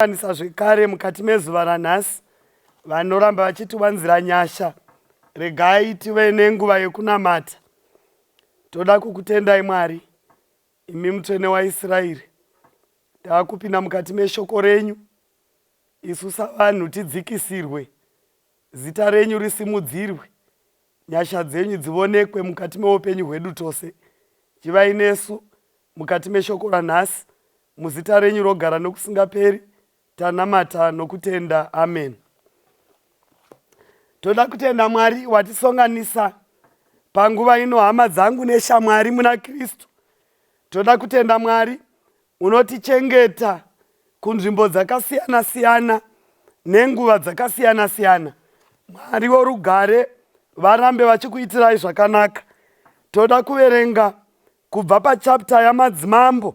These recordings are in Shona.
Vanisa zvekare mukati mezuva ranhasi vanoramba vachitiwanzira nyasha regai tive nenguva yekunamata toda kukutendai mwari imi mutsvene waisraeri takupinda mukati meshoko renyu isu savanhu tidzikisirwe zita renyu risimudzirwe nyasha dzenyu dzivonekwe mukati meupenyu hwedu tose chivai nesu mukati meshoko ranhasi Muzita renyu rogara nokusingaperi tanamata nokutenda amen. Toda kutenda Mwari watisonganisa panguva ino hama dzangu neshamwari muna Kristu. Toda kutenda Mwari unotichengeta kunzvimbo dzakasiyana siyana nenguva dzakasiyana siyana. Mwari worugare varambe vachikuitirai zvakanaka. Toda kuverenga kubva pachapter yamadzimambo.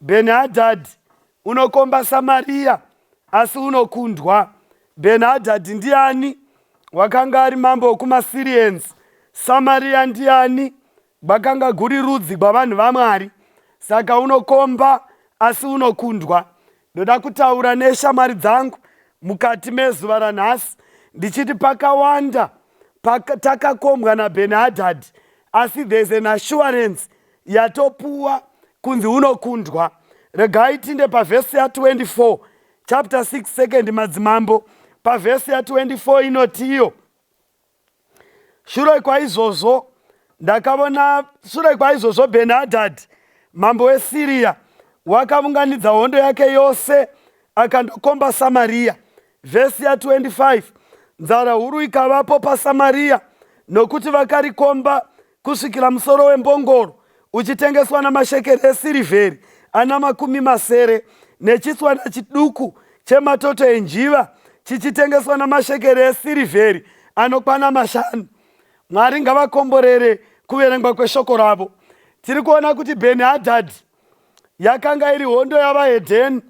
Bheni-hadhadhi unokomba Samariya, asi unokundwa. Bheni-hadhadhi ndiani? Wakanga ari mambo wokumaSirians. Samariya ndiani? Gwakanga guri rudzi gwavanhu vaMwari. Saka unokomba, asi unokundwa. Ndoda kutaura neshamwari dzangu mukati mezuva ranhasi ndichiti pakawanda paka, takakombwa naBheni-hadhadhi, asi there's an assurance yatopuwa kunzi unokundwa regai tinde pavhesi ya24 chapter 6 second madzimambo pavhesi ya24 inotiyo shure kwaizvozvo ndakavona shure kwaizvozvo benhadhadhi mambo wesiriya wakavunganidza hondo yake yose akandokomba samariya vhesi ya25 nzara huru ikavapo pasamariya nokuti vakarikomba kusvikira musoro wembongoro uchitengeswa namashekeri esirivheri ana makumi masere, nechitswana chiduku chematoto enjiva chichitengeswa namashekeri esirivheri anokwana mashanu. Mwari ngavakomborere kuverengwa kweshoko ravo. Tiri kuona kuti Bheni Hadhadhi yakanga iri hondo yavahedheni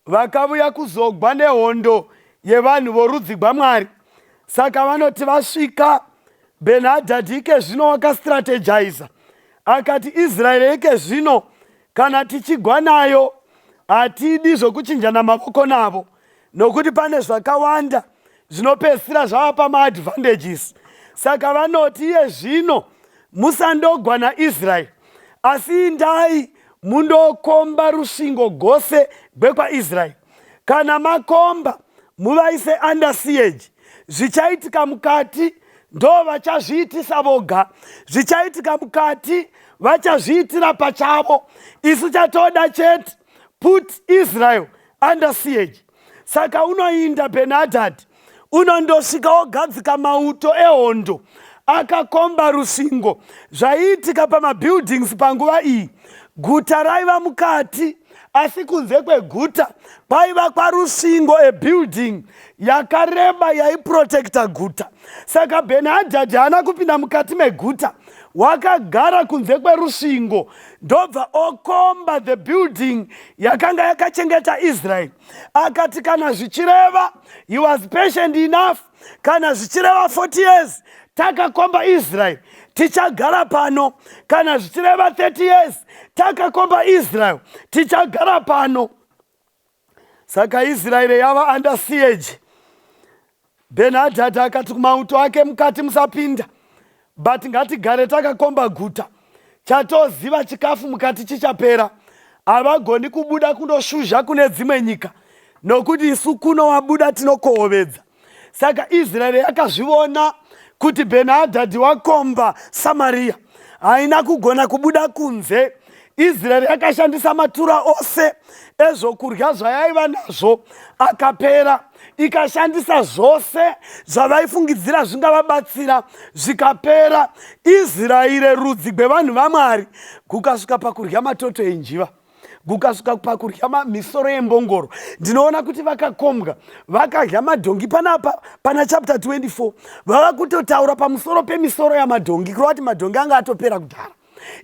vakavuya kuzogwa nehondo yevanhu vorudzi gwamwari saka vanoti vasvika benhadhadhi ike zvino wakastrategiza akati israeri ike zvino kana tichigwa nayo hatidi zvokuchinjana mavoko navo nokuti pane zvakawanda zvinopedzisira zvava pamaadvantages saka vanoti iye zvino musandogwa naisraeri asi indai mundokomba rusvingo gose gwekwaisraeri kana makomba muvaise under siege zvichaitika mukati ndo vachazviitisa voga zvichaitika mukati vachazviitira pachavo isu chatoda chete put israel under siege saka unoinda benhadhadhi unondosvika wogadzika mauto ehondo akakomba rusingo zvaiitika pamabuildings panguva iyi guta raiva mukati asi kunze kweguta kwaiva kwarusingo ebuilding yakareba yaiprotekta guta saka benhadhadhi haana kupinda mukati meguta wakagara kunze kwerusingo ndobva okomba the building yakanga yakachengeta israeri akati kana zvichireva he was patient enough kana zvichireva 40 years takakomba israeri tichagara pano kana zvichireva 30 years takakomba israeri tichagara pano Saka Israeri yava under siege. Benhadhadha akati kumauto ake, mukati musapinda, but ngatigare takakomba guta. Chatoziva chikafu mukati chichapera. Havagoni kubuda kundoshuzha kune dzimwe nyika, nokuti isu kuno wabuda tinokohovedza. saka israeri yakazvivona kuti benhadhadhi wakomba samariya haina kugona kubuda kunze israeri yakashandisa matura ose ezvokudya zvayaiva nazvo akapera ikashandisa zvose zvavaifungidzira zvingavabatsira zvikapera israeri rudzi gwevanhu vamwari kukasvika pakudya matoto enjiva kukasvika pakudya misoro yembongoro ndinoona kuti vakakombwa vakadya madhongi panapa pana chapter 24 vava kutotaura pamusoro pemisoro yamadhongi kureva kuti madhongi anga atopera kudhara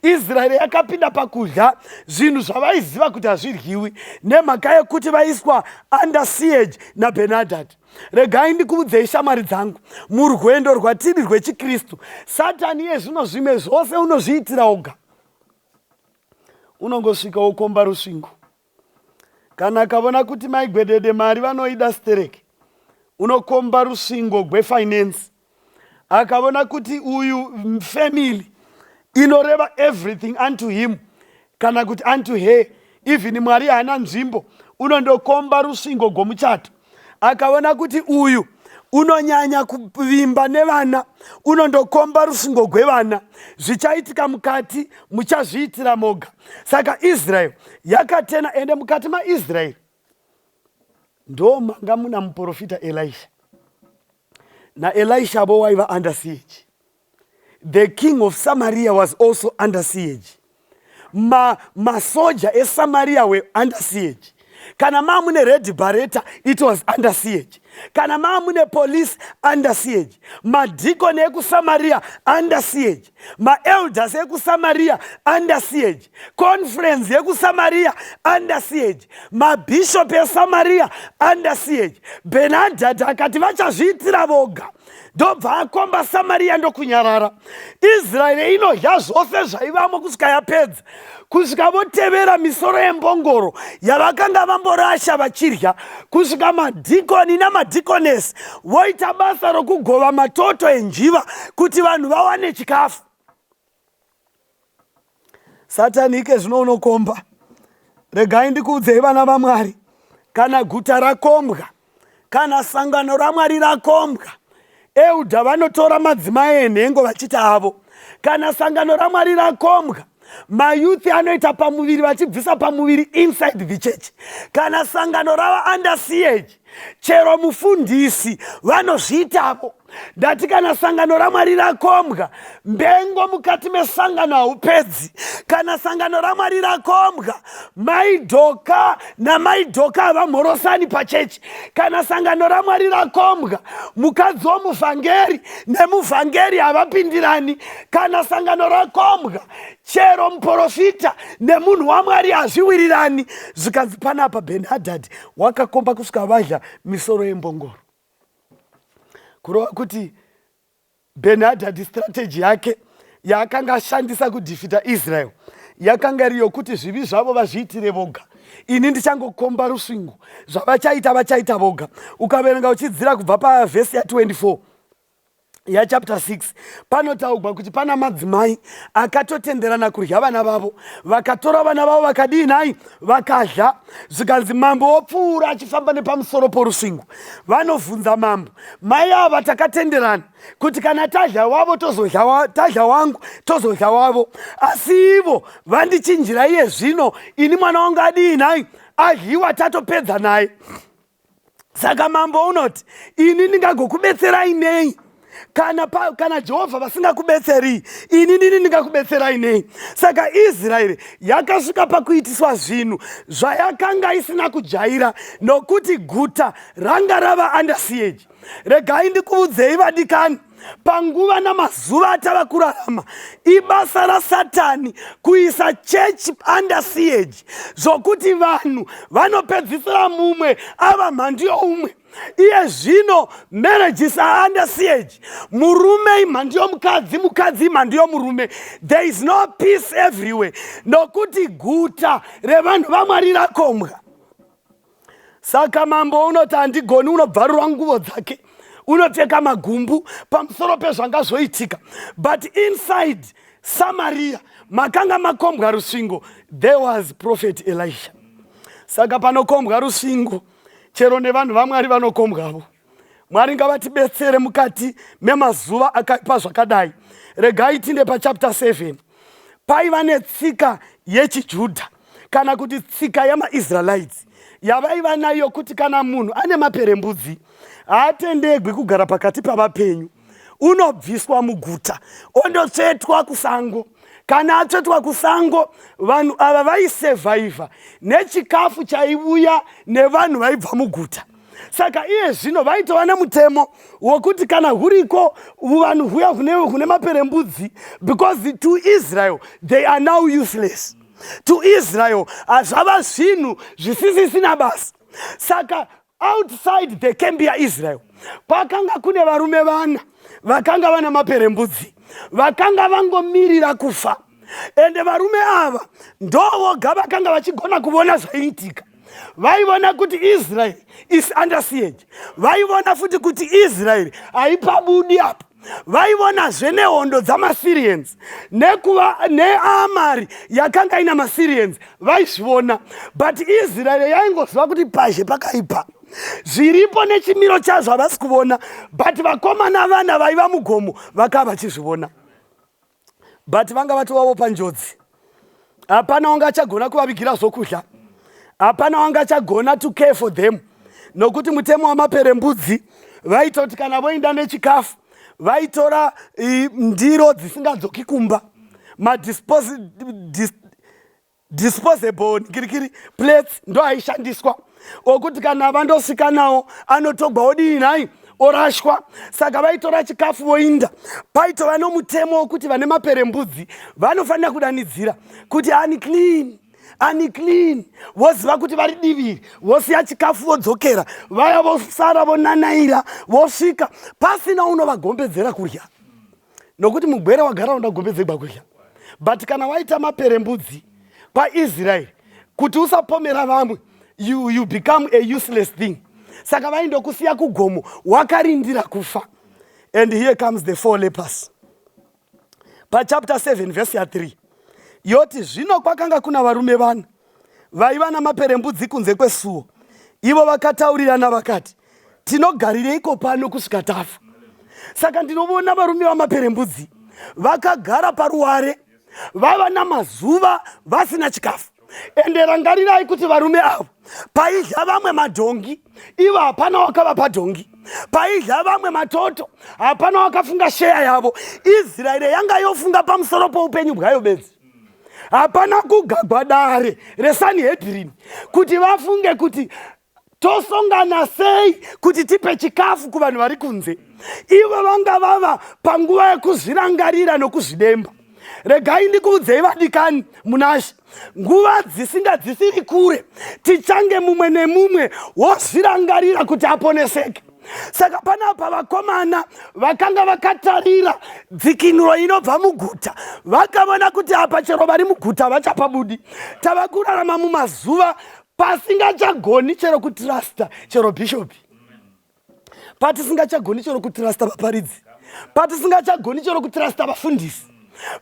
israeri yakapinda pakudya zvinhu zvavaiziva kuti hazvidyiwi nemhaka yekuti vaiswa under siege nabenadhadhi regai ndikuudzei shamwari dzangu murwendo rwatiri rwechikristu satani yezvino zvimwe zvose unozviitira oga unongosvika wokomba rusvingo kana akavona kuti maigwedede mari vanoida sterek unokomba rusvingo gwefinance akavona kuti uyu family inoreva everything unto him kana kuti unto her even mwari haana nzvimbo unondokomba rusvingo gwomuchato akaona kuti uyu unonyanya kuvimba nevana unondokomba rufungo gwevana zvichaitika mukati muchazviitira moga saka israeri yakatena ende mukati maisraeri ndomanga muna muprofita elisha naElisha avo waiva under siege the king of samaria was also under siege ma masoja esamaria were under siege kana maa mune red bareta it was under siege kana maa mune police under siege madhikoni ekusamaria under siege maelders ekusamaria under siege conference yekusamaria under siege mabhishop esamaria under siege benadhadha akati vachazviitira voga ndobva akomba samaria ndokunyarara israeri inodya zvose zvaivamo kusvika yapedza kusvika votevera misoro yembongoro yavakanga vamborasha vachidya kusvika madhikoni namadhikonesi voita basa rokugova matoto enjiva kuti vanhu vawane chikafu satani ike zvino unokomba regai ndikuudzei vana vamwari kana guta rakombwa kana sangano ramwari rakombwa euda vanotora madzimai enhengo vachiti avo kana sangano ramwari rakombwa mayouth anoita pamuviri vachibvisa pamuviri inside the church kana sangano rava under ch chero mufundisi vanozviitavo ndati kana sangano ramwari rakombwa mbengo mukati mesangano haupedzi kana sangano ramwari rakombwa maidhoka namaidhoka havamhorosani pachechi kana sangano ramwari rakombwa mukadzi womuvhangeri nemuvhangeri havapindirani kana sangano rakombwa chero muprofita nemunhu wamwari hazviwirirani zvikanzi panapa benhadhadhi wakakomba kusvika vadya misoro yembongoro kurova kuti benhadhadhi strategy yake yaakanga ashandisa kudhifita israel yakanga iri yokuti zvivi zvavo vazviitire voga ini ndichangokomba rusvingo zvavachaita vachaita voga ukaverenga uchidzira kubva pavhesi ya24 yachapter 6 panotaugwa kuti pana madzimai akatotenderana kudya vana vavo vakatora vana vavo vakadii nhai vakadya zvikanzi mambo wopfuura achifamba nepamusoro porusvingo vanobvunza mambo mai ava takatenderana kuti kana tadya wavo tozodya tadya wangu tozodya wavo asi ivo vandichinjira iye zvino ini mwana wangu adii nhai adyiwa tatopedza naye saka mambo unoti ini ndingagokubetserai nei kana, pa, kana jehovha vasingakubetseri ini nini ndingakubetserai nei saka israeri yakasvika pakuitiswa zvinhu zvayakanga isina kujaira nokuti guta ranga rava under siege regai ndikuvudzei vadikani panguva namazuva atava kurarama ibasa rasatani kuisa chechi under siege zvokuti vanhu vanopedzisira mumwe ava mhandu youmwe iye zvino marriages are under siege murume imhandu yomukadzi mukadzi imhandu yomurume there is no peace everywhere nokuti guta revanhu vamwari rakombwa saka mambo unoti handigoni unobvarurwa nguvo dzake unopfeka magumbu pamusoro pezvanga zvoitika but inside samaria makanga makombwa rusvingo there was prophet elisha saka panokombwa rusvingo chero nevanhu vamwari vanokombwavo mwari ngavatibetsere mukati memazuva akaipa zvakadai regai tinde pachapta 7 paiva netsika yechijudha kana kuti tsika yamaisraelites yavaiva nayo kuti kana munhu ane maperembudzi haatendegwi kugara pakati pavapenyu unobviswa muguta ondotsvetwa kusango kana atsvetwa kusango vanhu ava vaisevhaivha nechikafu chaivuya nevanhu vaibva muguta saka iye zvino vaitova nemutemo wokuti kana huriko vanhu huya hune maperembudzi because to israel they are now useless to israel hazvava zvinhu zvisisisina basa saka outside the camp yaisrael kwakanga kune varume vana vakanga vana maperembudzi vakanga vangomirira kufa ende varume ava ndovoga vakanga vachigona kuvona zvaiitika vaivona kuti israeri is under siege vaivona futi kuti israeri haipabudi apo vaivonazve nehondo dzamasyrians nekuva neamari yakanga ina masyrians vaizvivona but israeri yaingoziva kuti pazhe pakaipa zviripo nechimiro chazvo havasi kuvona but vakomana vana vaiva mugomo vakava vachizvivona but vanga vatovawo panjodzi hapana wanga achagona kuvavigira zvokudya hapana wanga achagona to care for them nokuti mutemo wamaperembudzi vaitoti kana voinda nechikafu vaitora ndiro dzisingadzoki kumba madisposi disposable nikirikiri plates ndo aishandiswa okuti kana vandosvika nawo anotogwa odii nhai orashwa saka vaitora chikafu voinda paitova nomutemo wokuti vane mapere mbudzi vanofanira kudanidzira kuti ani clean ani clean voziva kuti vari diviri vosiya chikafu vodzokera vaya vosara vonanaira vosvika pasina unovagombedzera kurya nokuti mugwere wagara unoda gombe dzegwa kudya but kana waita mapere mbudzi kwaisraeri kuti usapomera vamwe you, you become a useless thing saka vaindokusiya kugomo wakarindira kufa and here comes the four lepers pachapter 7 vhesi ya3 yoti zvino kwakanga kuna varume vana vaiva namaperembudzi kunze kwesuo ivo vakataurirana vakati tinogarireiko pano kusvika tafa saka ndinovona varume vamaperembudzi vakagara paruware vava namazuva vasina chikafu ende rangarirai kuti varume avo paidya vamwe madhongi ivo hapana wakavapa dhongi paidya vamwe matoto hapana wakafunga sheya yavo israeri yanga yofunga pamusoro poupenyu bwayo bedzi hapana kugagwa dare resanhedrini kuti vafunge kuti tosongana sei kuti tipe chikafu kuvanhu vari kunze ivo vanga vava panguva yekuzvirangarira nokuzvidemba regai ndikuudzei vadikani munashe nguva dzisinga dzisiri kure tichange mumwe nemumwe wozvirangarira kuti aponeseke saka panapa vakomana vakanga vakatarira dzikinuro inobva muguta vakavona kuti apa chero vari muguta vachapabudi tava kurarama mumazuva pasingachagoni chero kutirasta chero bhishopi patisingachagoni chero kutirasta vaparidzi patisingachagoni chero kutirasta vafundisi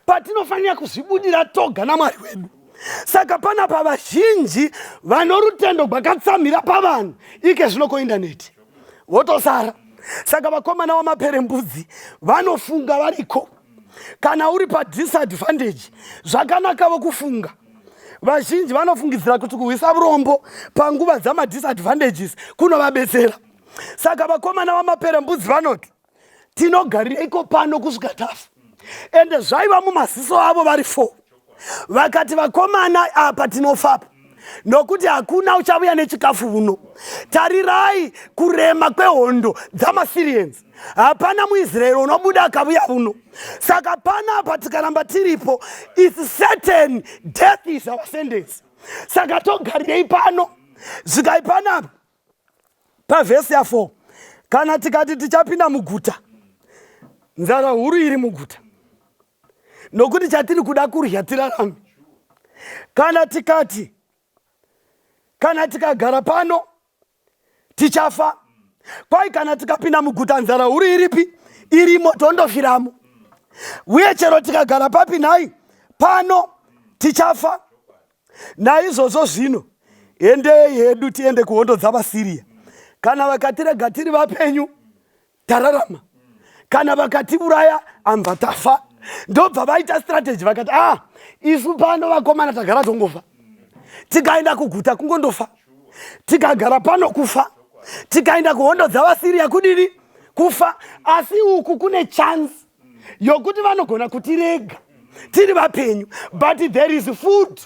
patinofanira kuzvibudira toga namwari wedu saka pana pavazhinji vanorutendo gwakatsamhira pavanhu ike zvino koindaneti votosara saka vakomana wamaperembudzi vanofunga variko kana uri padisadvantage zvakanakavo kufunga vazhinji vanofungidzira kuti kuhwisa vurombo panguva dzamadisadvantages kunovabetsera saka vakomana vamaperembudzi vanoti tinogarireiko pano kusvika tafa ende zvaiva mumaziso avo vari four vakati vakomana apa tinofapa nokuti hakuna uchavuya nechikafu vuno tarirai kurema kwehondo dzamasiriensi hapana muisraeri unobuda akavuya vuno saka pana apa tikaramba tiripo is certain death is our sentence saka togarirei pano zvikai panapa pavhesi ya4 kana tikati tichapinda muguta nzara huru iri muguta nokuti chatiri kuda kurya tirarame kana tikati kana tikagara pano tichafa kwai kana tikapinda muguta nzara huru iripi irimo tondofiramo uye chero tikagara papi nhai pano tichafa Naizvozvo zvino, endei hedu tiende kuhondo dzavaSiriya. Kana vakatirega tiri vapenyu, tararama. Kana vakatiuraya, ambva tafa. Ndobva vaita strategy vakati, ah, isu pano vakomana tagara tongofa. Tikaenda kuguta kungondofa. Tikagara pano kufa. Tikaenda kuhondo dzavaSiriya kudini? Kufa. Asi uku kune chance yokuti vanogona kutirega tiri vapenyu but there is food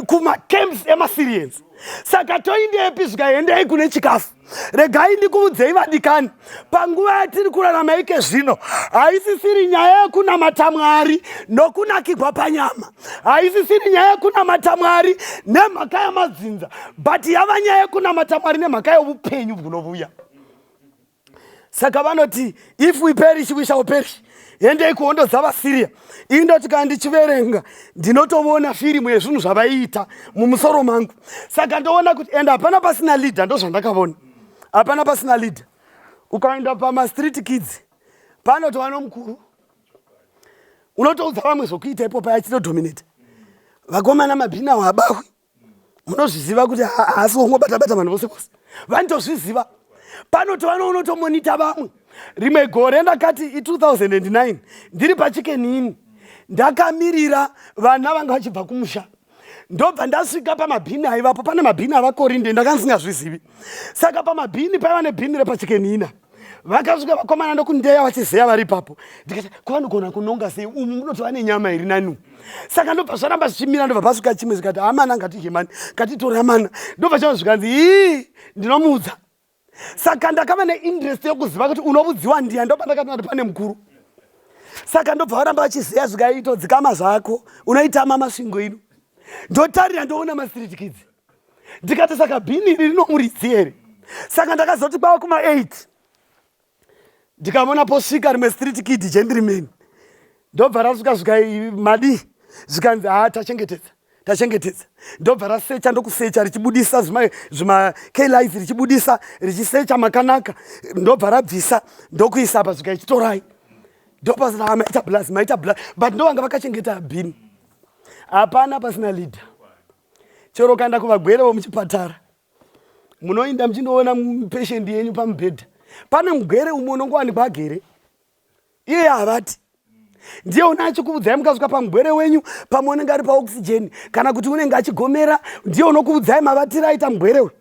kumacamps emasirians saka toindepi zvikaendei kune chikafu regai ndikuvudzei vadikani panguva yatiri kurarama ike zvino haisisiri nyaya yekunamata mwari nokunakigwa panyama haisisiri nyaya yekunamata mwari nemhaka yamadzinza but yava nyaya yekunamata mwari nemhaka yeupenyu bwunovuya saka vanoti if we perish we shall perish endei kuhondo dzavasiriya ii ndoti kana ndichiverenga ndinotoona firimu yezvinhu zvavaiita mumusoro mangu saka ndoona kuti ende hapana pasina leader ndozvandakavona hapana pasina leader ukaenda pamastreet kids panotova nomukuru unotoudza vamwe zvokuita ipopa yachitodominate vakomana mabhinawo habahwi munozviziva kuti haasi wongobatabata vanhu vose vose vanitozviziva panoti vanounotomonita vamwe rimwe gore ndakati i2009 ndiri pachikenini ndakamirira vana vanga vachibva kumusha ndobva ndasvika pamabhini aivapo pane mabhini avakorinde ndakandisingazvizivi saka pamabhini paiva nebhini repachikenina vakasvika vakomana ndokundeya vachizeya vari ipapo ndikati kwavanogona kunonga sei umu munoti vane nyama iri nani saka ndobva zvaramba zvichimira ndobva pasvika chimwe zikati amana ngatidye mani ngatitora mana ndobva chava zvikanzi ii ndinomuudza saka ndakava neinterest yokuziva kuti unovudziwa ndiya ndoba ndakati nati pane mukuru saka ndobva varamba vachizeya zvikaitodzikama zvako unoitama masvingo ino ndotarira ndoona mastreet kids ndikati saka bhini iri rinomuridzi here saka ndakazoti kwava kuma 8 ndikavona posvika rimwe street kid chendiri meni ndobva rasvika zvika madii zvikanzi haa tachengetedza tachengetedza ndobva rasecha ndokusecha richibudisa zvimakalis richibudisa richisecha makanaka ndobva rabvisa ndokuisa apa zvika ichitorai ndopasina maita blas maita blas but ndovanga vakachengeta bhini hapana pasina leader chero ukaenda kuvagwere vomuchipatara munoinda muchindoona patient yenyu pamubhedha pane mugwere umwe unongowanikwa agere iye havati ndiye une achikuvudzai mukasvika pamugwere wenyu pamwe unenge ari paoxygen kana kuti unenge achigomera ndiye unokuvudzai mavatira aita mugwere uyu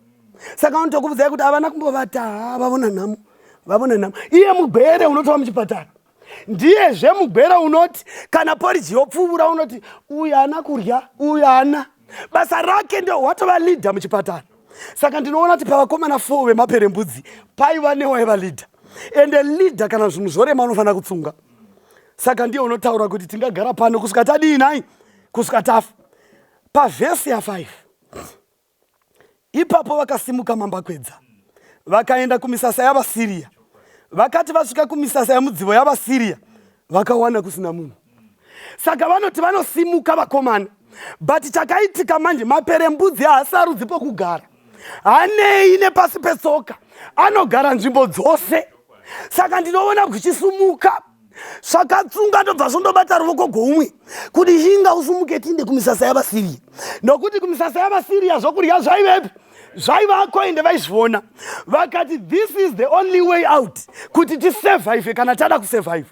saka unotokuvudzai kuti havana kumbovata ha vavona nhamo vavona nhamo iye mugwere unotova muchipatara ndiye zve mugwera unoti kana poriji yopfuvura unoti uyu haana kurya uyu haana basa rake ndo watova leader muchipatara saka ndinoona kuti pavakomana four vemaperembudzi paiva newaiva leader ende leader kana zvinhu zvorema unofanira kutsunga saka ndiye unotaura kuti tingagara pano kusvika tadii nai kusvika tafa pavhesi ya5 Ipapo vakasimuka mambakwedza vakaenda kumisasa yavaSiria. Vakati vasvika kumisasa yamudzivo yavaSiria, vakawana kusina munhu. Saka vanoti vanosimuka vakomana, but chakaitika manje, maperembudzi haasarudzi pokugara, hanei nepasi petsoka, anogara nzvimbo dzose. Saka ndinoona kuchisumuka zvakatsunga ndobva zvondobata ruvoko goumwe kuti inga usumuke tiinde kumisasa yavasiriya nokuti kumisasa yavasiriya zvokurya zvaivepi zvaivako ende vaizviona vakati this is the only way out kuti tisurvive kana tada kusurvive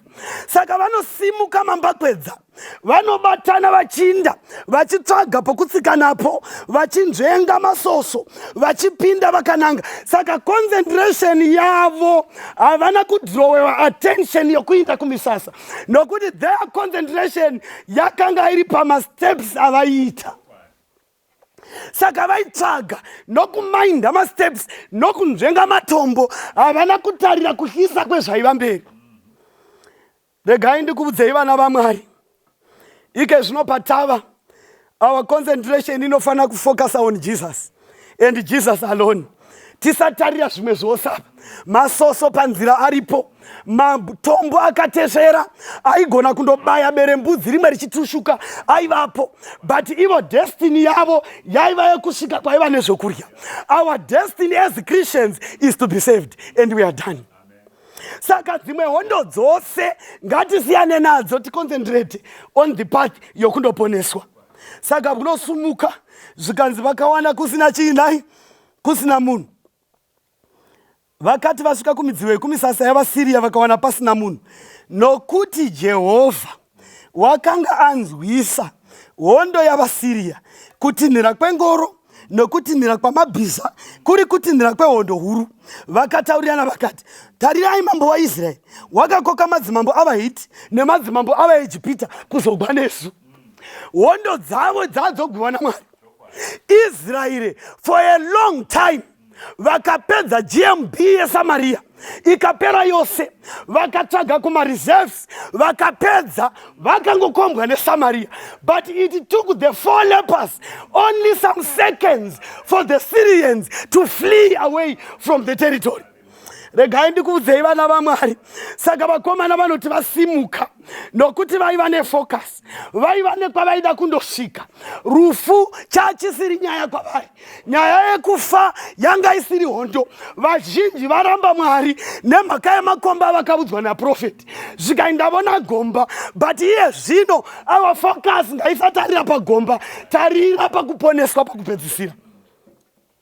saka vanosimuka mambakwedza vanobatana vachinda vachitsvaga pokutsika napo vachinzvenga masoso vachipinda vakananga saka concentration yavo havana kudrowewa attention yokuinda kumisasa nokuti their concentration yakanga iri pamasteps avaiita saka vaitsvaga nokumainda masteps nokunzvenga matombo havana kutarira kuhlisa kwezvaiva mberi Regai ndikuudzei vana vaMwari. Ike zvino patava our concentration inofanira kufocus on Jesus and Jesus alone. Tisatarira zvimwe zvose apa. Masoso panzira aripo. Matombo akatesvera aigona kundobaya bere mbudzi rimwe richitushuka aivapo but ivo destiny yavo yaiva yekusvika kwaiva nezvokudya. Our destiny as Christians is to be saved and we are done. saka dzimwe hondo dzose ngatisiyane nadzo ticoncentrate on the path yokundoponeswa saka kunosumuka zvikanzi vakawana kusina chiinai kusina munhu vakati vasvika kumidziyo yekumisasa yavasiriya vakawana pasina munhu nokuti jehovha wakanga anzwisa hondo yavaSiriya kutinhira kwengoro nokutinhira kwamabhiza kuri kutinhira kwehondo huru vakataurirana vakati tarirai mambo waisraeri wakakoka madzimambo avahiti nemadzimambo avaejipita kuzogwa nesu hondo dzavo dzadzoguva namwari israeri for a long time vakapedza gmb yesamariya ikapera yose vakatsvaga kumareserves vakapedza vakangokombwa nesamariya but it took the four lepers only some seconds for the syrians to flee away from the territory regai ndikuudzei vana vamwari saka vakomana vanoti vasimuka nokuti vaiva nefocus vaiva nekwavaida kundosvika rufu chachisiri nyaya kwavari nyaya yekufa yanga isiri hondo vazhinji varamba mwari nemhaka yemakomba avakavudzwa naprofeti zvikaindavona gomba but iye zvino ava focus ngaisatarira pagomba tarira pakuponeswa pakupedzisira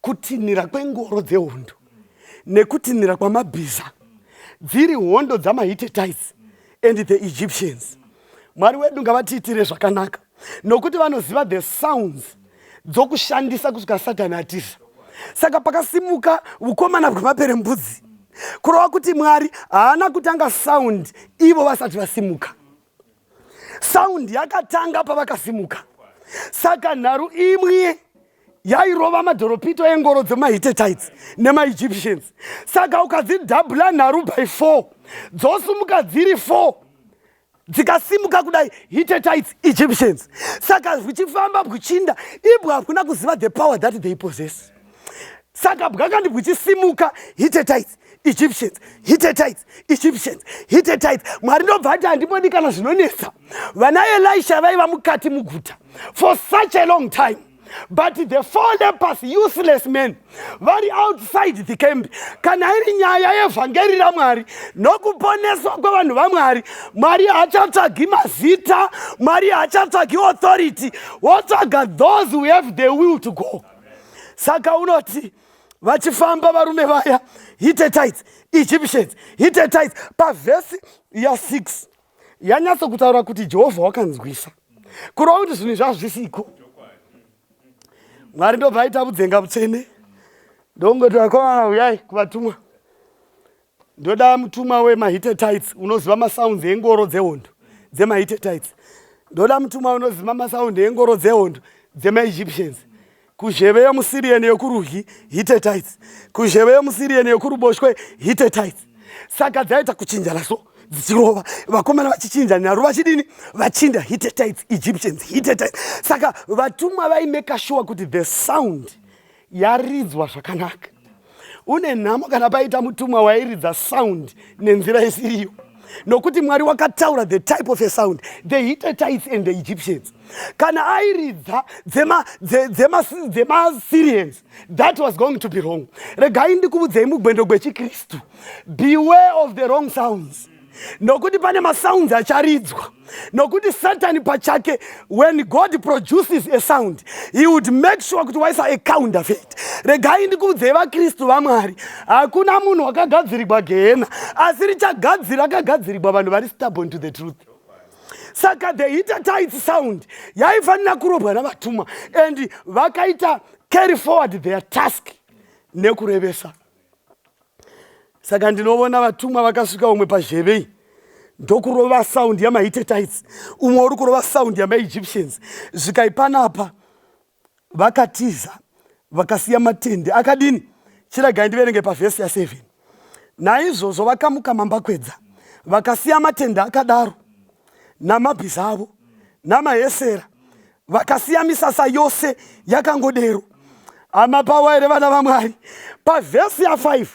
Kutinhira kwengoro dzehondo nekutinhira kwamabhiza dziri hondo dzamahitetites and the egyptians mwari wedu ngavatiitire zvakanaka nokuti vanoziva the sounds dzokushandisa kusvika satani atiza saka pakasimuka ukomana bwemapere mbudzi kurova kuti mwari haana kutanga sound ivo vasati vasimuka sound yakatanga pavakasimuka saka nharu imwe yairova madhoropito engoro dzemahittetites nemaegyptians saka ukadzidhabhula nharu by four dzosumuka dziri four dzikasimuka kudai hittetites egyptians saka zvichifamba bwuchinda ibwa hakuna kuziva the power that they possess saka bwakandi bwichisimuka hitetites egyptians hitetites egyptians hitetites mwari ndobva ati handibodi kana zvinonetsa vana elisha vaiva mukati muguta for such a long time but the four lepers useless men vari outside the camp kana iri nyaya yevhangeri ramwari nokuponeswa kwevanhu vamwari mwari haachatsvagi mazita mwari haachatsvagi authority wotsvaga those who have the will to go saka unoti vachifamba varume vaya hitetites egyptians hitetites pavhesi ya6 yanyatso kutaura kuti jehovha wakanzwisa kurova kuti zvinhu zvazvisiko mwari ndobva aita vudzenga vutsvene ndongotivakomana uyai kuvatumwa ndoda mutumwa wemahite tights unoziva masounds engoro dzehondo dzemahite tights ndoda mutumwa unoziva masound engoro dzehondo dzemaegyptians kuzheve yomusirian yokurudyi hite tights kuzheve yomusirian yokuruboshwe hite tights saka dzaita kuchinjana so dzichirova vakomana vachichinja nyaru vachidini vachinja hite tights egyptians hite tights saka vatumwa vaimeka shuwa kuti the sound yaridzwa zvakanaka une nhamo kana paita mutumwa wairidza sound nenzira isiriyo nokuti mwari wakataura the type of a sound the hitetites and the egyptians kana airidza dzemasyrians that was going to be wrong regai ndikuvudzei mugwendo gwechikristu beware of the wrong sounds nokuti pane masounds acharidzwa nokuti satani pachake when god produces a sound he would make sure kuti waisa a counterfeit regai ndikuudzei vakristu vamwari hakuna munhu wakagadzirigwa gehena asi richagadzira akagadzirigwa vanhu vari stubborn to the truth saka the hitatit sound yaifanira kurobwa navatumwa and vakaita carry forward their task nekurevesa saka ndinovona vatumwa vakasvika umwe pazhevei ndokurova sound yamahitetites umwe uri kurova sound yamaegyptians zvikaipanapa vakatiza vakasiya matende akadini chiragai ndiverenge pavhesi ya7 naizvozvo vakamuka mambakwedza vakasiya matende akadaro namabhiza avo namahesera vakasiya misasa yose yakangodero hama pawa here vana vamwari pavhesi ya 5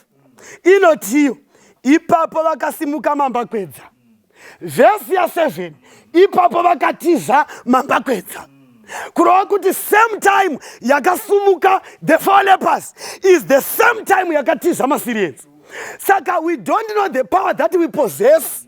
inotiyo ipapo vakasimuka mambakwedza vhesi ya 7 ipapo vakatiza mambakwedza kurova kuti same time yakasumuka the four lepers is the same time yakatiza masirienzi saka we don't know the power that we possess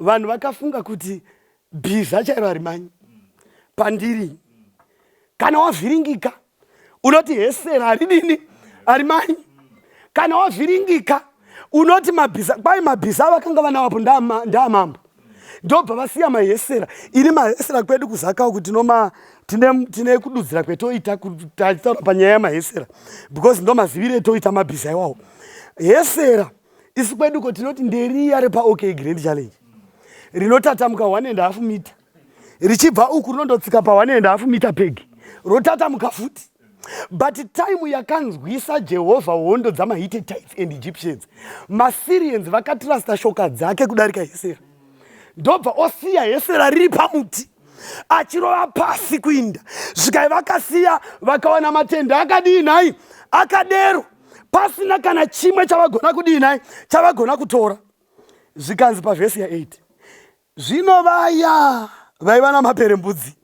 vanhu vakafunga kuti bhiza chairo harimanyi pandiri kana wavhiringika unoti hesera haridini harimanyi kana wavhiringika unoti mabhiza kwai mabhiza avakanga vanawapo ndaamambo ndobva vasiya mahesera ini mahesera kwedu kuzakawo kuti noma tine, tine kududzira kwetoita kutataura panyaya yamahesera because ndomazivire toita mabhiza iwawo hesera isu kwedu ko tinoti nderiya repaok grand challenge rinotatamuka one and half mita richibva uku rinondotsika paone and half mita peg rotatamuka futi but time yakanzwisa jehovha hondo dzamahite tites and egyptians masirians vakatirasta shoka dzake kudarika hesera ndobva osiya hesera riri pamuti achirova pasi kuinda zvikai vakasiya vakawana matenda akadii nhai akadero pasina kana chimwe chavagona kudii nai chavagona kutora zvikanzi pavhesi ya8 zvino vaya vaiva namapere mbudzi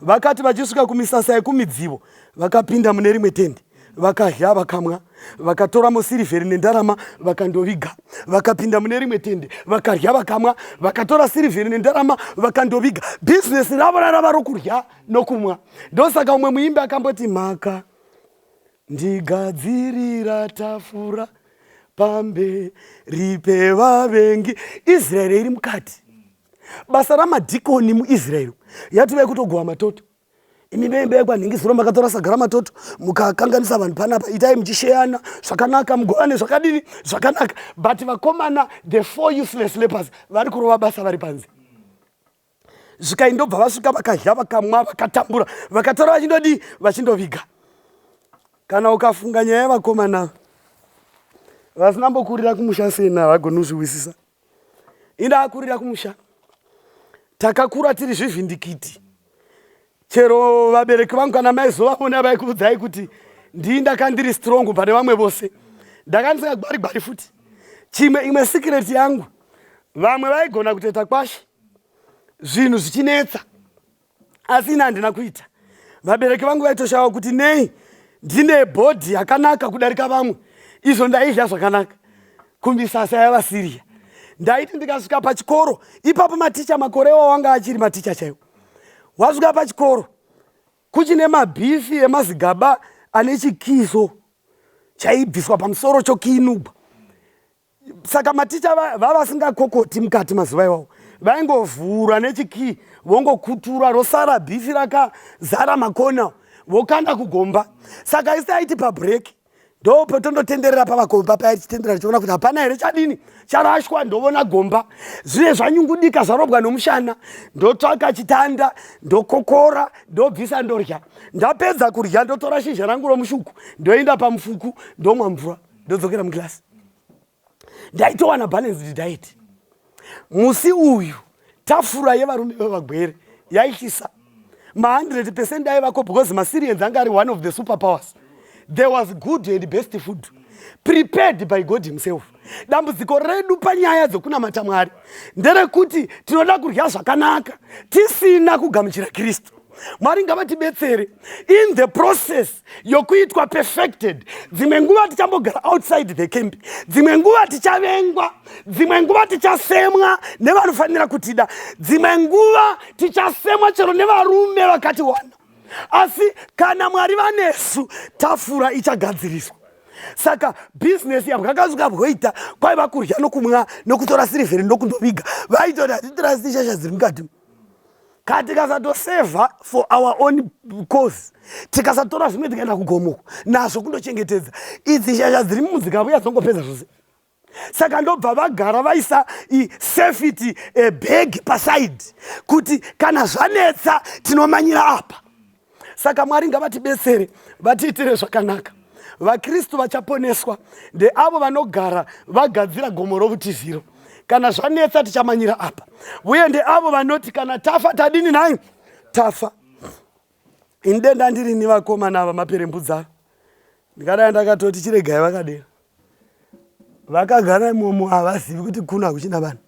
vakati vachisvika kumisasa yekumidzivo vakapinda mune rimwe tendi vakadya vakamwa vakatora musirivheri nendarama vakandoviga vakapinda mune rimwe tende vakadya vakamwa vakatora sirivheri nendarama vakandoviga bhizinesi ravo rarava rokurya nokumwa ndosaka umwe muimbi akamboti mhaka Ndigadzirira tafura pamberi pevavengi israeri iri mukati basa ramadhikoni muisraeri yatovai kutogova matoto imi veimba yekwanhingisiro makatora sagara matoto mukakanganisa vanhu panapa itai muchisheyana zvakanaka mugovane zvakadini zvakanaka but vakomana the four useless lepers vari kurova basa vari panze zvikai ndobva vasvika vakadya vakamwa vakatambura vakatora vachindodii vachindoviga kana ukafunga nyaya yevakomana vasina mbokurira kumusha sei na vagoni kuzviwisisa inda akurira kumusha takakura tiri zvivhindikiti chero vabereki vangu kana maizovavona vaikuudzai kuti ndii ndakandiri strong pane vamwe vose ndakandisingagwari gwari futi chimwe imwe secret yangu vamwe vaigona kutoita kwashe zvinhu zvichinetsa asi ini handina kuita vabereki vangu vaitoshava kuti nei ndine bhodhi yakanaka kudarika vamwe izvo ndaidya zvakanaka kumisasa yavasiriya ndaiti ndikasvika pachikoro ipapo maticha makore wawanga achiri maticha chaiwo wasvika pachikoro kuchine mabhifi emazigaba ane chikiso chaibviswa pamusoro chokiinubwa saka maticha vavasingakokoti mukati mazuva iwawo vaingovhura nechikii vongokutura rosara bhifi rakazara makona vokanda kugomba saka isi aiti pabreaki ndo patondotenderera pavagomba paya tichitenderera tichiona kuti hapana here chadini charashwa ndovona gomba zviye zvanyungudika zvarobwa nomushana ndotsvaka chitanda ndokokora ndobvisa ndorya ndapedza kurya ndotora shizha rangu romushuku ndoenda pamufuku ndomwa mvura ndodzokera mugirasi ndaitowana balanced diet musi uyu tafura yevarume vevagwere yaitisa ma100 percent aivako because masirians anga ari one of the super powers there was good and best food prepared by god himself dambudziko redu panyaya dzokunamata mwari nderekuti tinoda kudya zvakanaka tisina kugamuchira kristu mwari ngavatibetsere in the process yokuitwa perfected dzimwe nguva tichambogara outside the camp dzimwe nguva tichavengwa dzimwe nguva tichasemwa nevanofanira kutida dzimwe nguva tichasemwa chero nevarume vakati wana asi kana mwari vanesu tafura ichagadziriswa saka bhizinesi yabwakasuka bwoita kwaiva kurya nokumwa nokutora sirivheri nokundoviga vaitoda hatitorasi shasha dziri mukati kana tikasatosevha for our own cause tikasatora zvimwe tikaenda kugomoko nazvo kundochengetedza idzi shasha dziri mumudzikavo yadzongopedza zvose saka ndobva vagara vaisa safety bag paside kuti kana zvanetsa tinomanyira apa saka mwari ngavatibetsere vatiitire zvakanaka vakristu vachaponeswa ndeavo vanogara vagadzira gomo rovutiziro kana zvanetsa tichamanyira apa uye ndeavo vanoti kana tafa tadini nhai tafa ini denda ndirini vakomana ava maperembudza ndingadai ndakatoti chiregai vakadero vakagara imomo havazivi kuti kuno hakuchina vanhu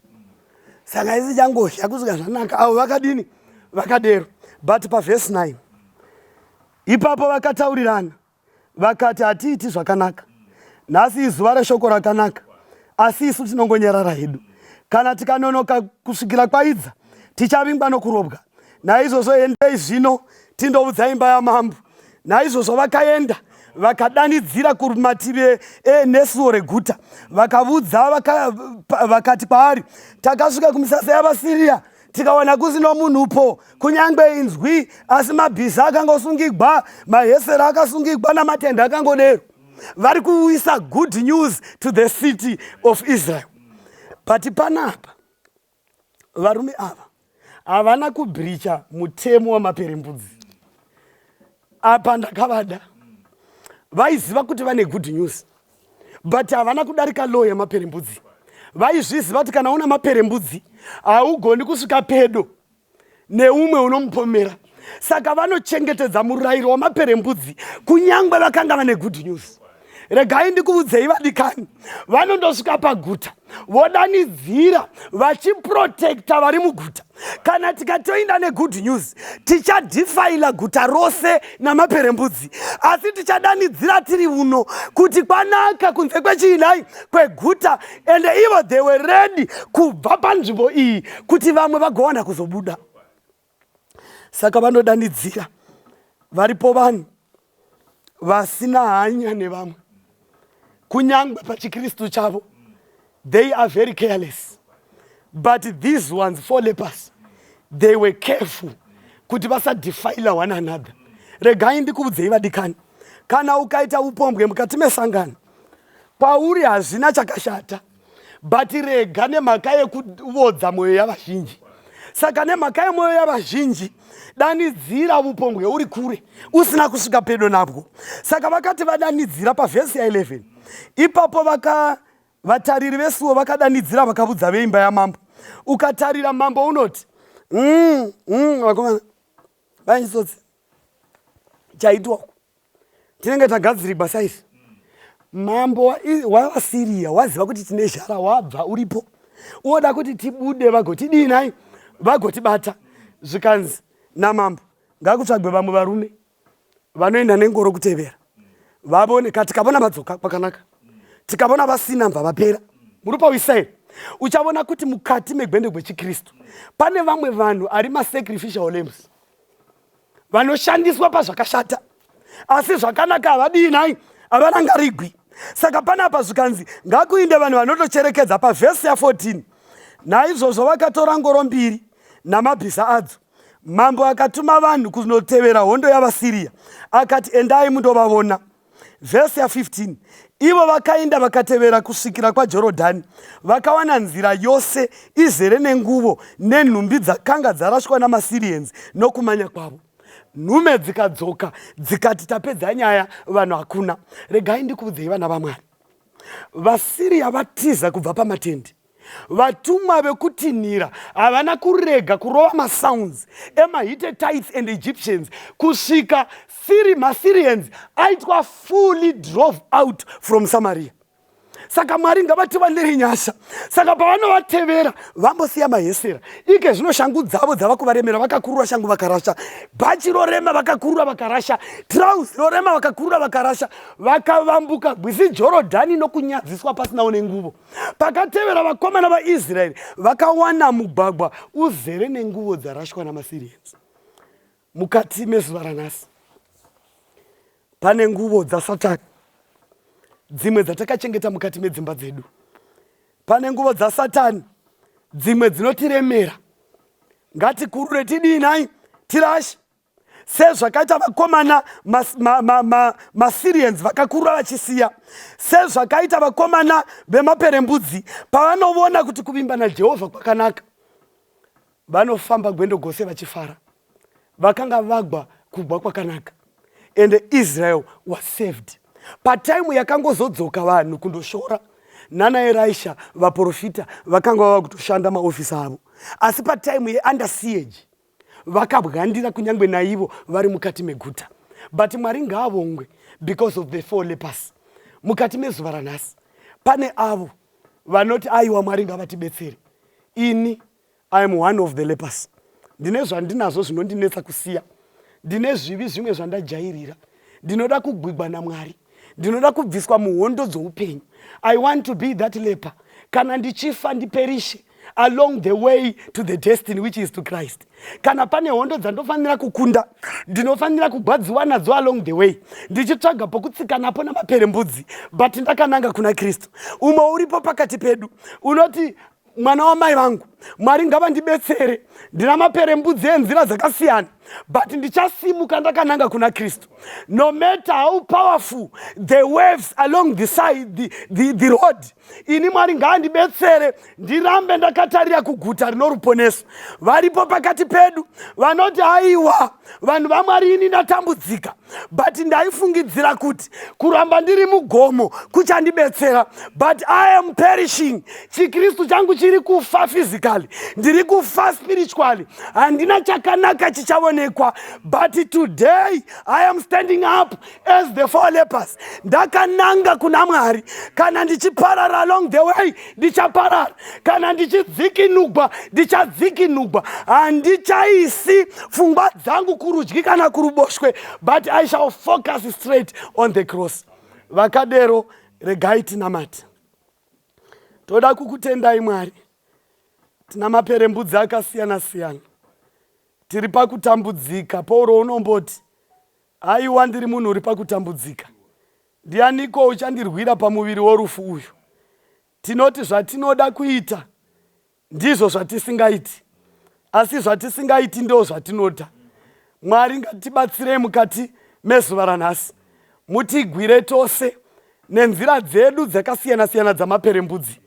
saka isi changohya kusvika zvanaka avo vakadini vakadero but pavhesi 9 ipapo vakataurirana vakati hatiiti zvakanaka nhasi izuva reshoko rakanaka asi isu tinongonyarara hedu kana tikanonoka kusvikira kwaidza tichavingwa nokurobwa naizvozvo endei zvino tindoudza imba yamambo naizvozvo vakaenda vakadanidzira kumativi enesuo reguta vakavudza vakati kwaari takasvika kumisasa yavasiriya tikawana kusino munhu po kunyange inzwi asi mabhiza akangosungigwa mahesera akasungigwa namatenda akangodero vari kuuyisa good news to the city of israel but panapa varume ava havana kubhiricha mutemo wamaperembudzi apa ndakavada vaiziva kuti vane good news but havana kudarika law yemaperembudzi vaizviziva kuti kana una maperembudzi haugoni kusvika pedo neumwe unomupomera saka vanochengetedza murayiro wamaperembudzi kunyange vakanga vane good news regai ndikuvudzei vadikani vanondosvika paguta vodanidzira vachiprotekta vari muguta kana tikatoinda negood news tichadhifaila guta rose namaperembudzi asi tichadanidzira tiri uno kuti kwanaka kunze kwechiinai kweguta ende ivo they were ready kubva panzvimbo iyi kuti vamwe vagowana kuzobuda saka vanodanidzira varipo vanhu vasina hanya nevamwe kunyangwe pachikristu chavo they are very careless but these ones four lepers they were careful kuti vasadefile one another regai ndikuudzei vadikani kana ukaita upombwe mukati mesangano kwauri hazvina chakashata but rega nemhaka yekuvodza mwoyo yavazhinji saka nemhaka yemwoyo yavazhinji danidzira vupombwe uri kure usina kusvika pedo nabwo saka vakati vadanidzira pavhesi ya11 ipapo vaka vatariri vesuwo vakadanidzira vakavudza veimba yamambo ukatarira mambo unoti mm, mm, vakomana vainjitsotsi chaitwa uku tinenge tagadzirigwa saizvi mambo wavasiriya waziva kuti tine zhara wabva uripo woda kuti tibude vagotidii nhai vagotibata zvikanzi namambo ngakutsvagwe vamwe varume vanoenda nengoro kutevera vavone ka tikavona vadzoka kwakanaka tikavona vasina mva vapera muri pawisa here uchavona kuti mukati megwende gwechikristu pane vamwe vanhu ari masacrificial lambs vanoshandiswa pazvakashata asi zvakanaka havadii nai havarangarigwi saka panapa zvikanzi ngakuinde vanhu vanotocherekedza pavhesi ya14 naizvozvo vakatora ngoro mbiri namabhiza adzo mambo akatuma vanhu kunotevera hondo yavasiriya akati endai mundovavona vhesi ya 15 ivo vakaenda vakatevera kusvikira kwajorodhani vakawana nzira yose izere nenguvo nenhumbi dzakanga dzarashwa namasirienzi nokumanya kwavo nhume dzikadzoka dzikati tapedza nyaya vanhu hakuna regai ndikuudzei vana vamwari vasiriya vatiza kubva pamatendi Vatumwa vekutinhira havana kurega kurova masounds emaHittites and Egyptians kusvika maSyrians aitwa fully drove out from Samaria. Saka Mwari ngavatiwanire nyasha. Saka pavanovatevera vambosiya mahesera. Ike zvino shangu dzavo dzava kuvaremera vakakurura shangu vakarasha. Bhachi rorema vakakurura vakarasha. Trouse rorema vakakurura vakarasha. Vakavambuka gwizi Jorodhani nokunyadziswa pasinawo nenguvo. pakatevera vakomana vaisraeri vakawana mugwagwa uzere nenguvo dzarashwa namasirians mukati mezuva ranhasi pane nguvo dzasatani dzimwe dzatakachengeta mukati medzimba dzedu pane nguvo dzasatani dzimwe dzinotiremera ngatikurure tidii nhai tirashe sezvakaita vakomana masirians vakakurura vachisiya sezvakaita vakomana vemaperembudzi pavanovona kuti kuvimba najehovha kwakanaka vanofamba gwendo gose vachifara vakanga vagwa kugwa kwakanaka and israel was saved pataimu yakangozodzoka vanhu kundoshora nana eraisha vaprofita vakanga vava kutoshanda maofisi avo asi pataimu yeundersiege vakabwandira kunyange naivo vari mukati meguta but mwari ngaavongwe because of the four lepers mukati mezuva ranhasi pane avo vanoti aiwa mwari ngavatibetsere ini iam one of the lepers ndine zvandinazvo zvinondinetsa kusiya ndine zvivi zvimwe zvandajairira ndinoda kugwigwa namwari ndinoda kubviswa muhondo dzoupenyu i want to be that leper kana ndichifa ndiperishe along the way to the destiny which is to christ kana pane hondo dzandofanira kukunda ndinofanira kugwadziwa nadzo along the way ndichitsvaga pokutsika napo namaperembudzi but ndakananga kuna kristu umwe uripo pakati pedu unoti mwana wamai vangu mwari ngavandibetsere ndina maperembudzi enzira dzakasiyana but ndichasimuka ndakananga kuna kristu no matter how powerful the waves along the side the, the, the road ini mwari ngaandibetsere ndirambe ndakatarira kuguta rinoruponeso varipo pakati pedu vanoti haiwa vanhu vamwari ini ndatambudzika but ndaifungidzira kuti kuramba ndiri mugomo kuchandibetsera but i am perishing chikristu changu chiri kufa physically ndiri kufa spiritually handina chakanaka chichaonekwa but today i am standing up as the four lepers ndakananga kuna mwari kana ndichiparara along the way ndichaparara kana ndichidzikinugwa ndichadzikinugwa handichaisi pfungwa dzangu kurudyi kana kuruboshwe but i shall focus straight on the cross vakadero regai tinamati toda kukutendai mwari tina maperembudzi akasiyana siyana tiri pakutambudzika pauro unomboti aiwa ndiri munhu uri pakutambudzika Ndianiko uchandirwira pamuviri worufu uyu? Tinoti zvatinoda kuita ndizvo zvatisingaiti, asi zvatisingaiti ndoo zvatinoda. Mwari ngatibatsirei mukati mezuva ranhasi. Mutigwire tose nenzira dzedu dzakasiyana-siyana dzamaperembudzi.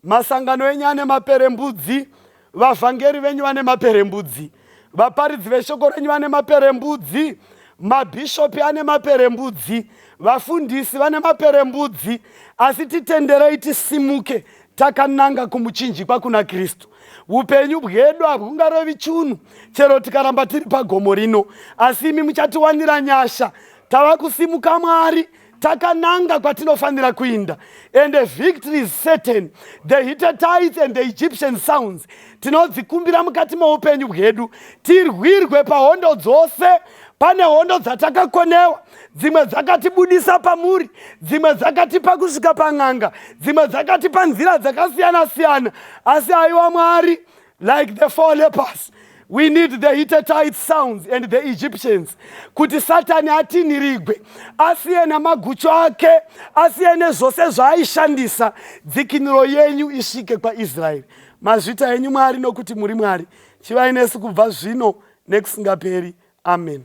Masangano enyu ane maperembudzi, vavhangeri venyu vane maperembudzi, vaparidzi veshoko renyu vane maperembudzi, mabhishopi ane maperembudzi, vafundisi vane maperembudzi, asi titenderei tisimuke takananga kumuchinjikwa kuna kristu upenyu bwedu hahungarevi chunhu chero tikaramba tiri pagomo rino asi imi muchatiwanira nyasha tava kusimuka mwari takananga kwatinofanira kuinda and a victory is certain the hitatites and the egyptian sounds tinodzikumbira mukati moupenyu bwedu tirwirwe pahondo dzose pane hondo dzatakakonewa dzimwe dzakatibudisa pamuri dzimwe dzakatipa kusvika pan'anga dzimwe dzakatipa nzira dzakasiyana siyana asi aiwa mwari like the four lepers we need the hittitite sounds and the egyptians kuti satani atinhirigwe asiye namagucho ake asiye nezvose zvaaishandisa dzikinuro yenyu isvike kwaisraeri mazvita enyu mwari nokuti muri mwari chivai nesu kubva zvino nekusingaperi amen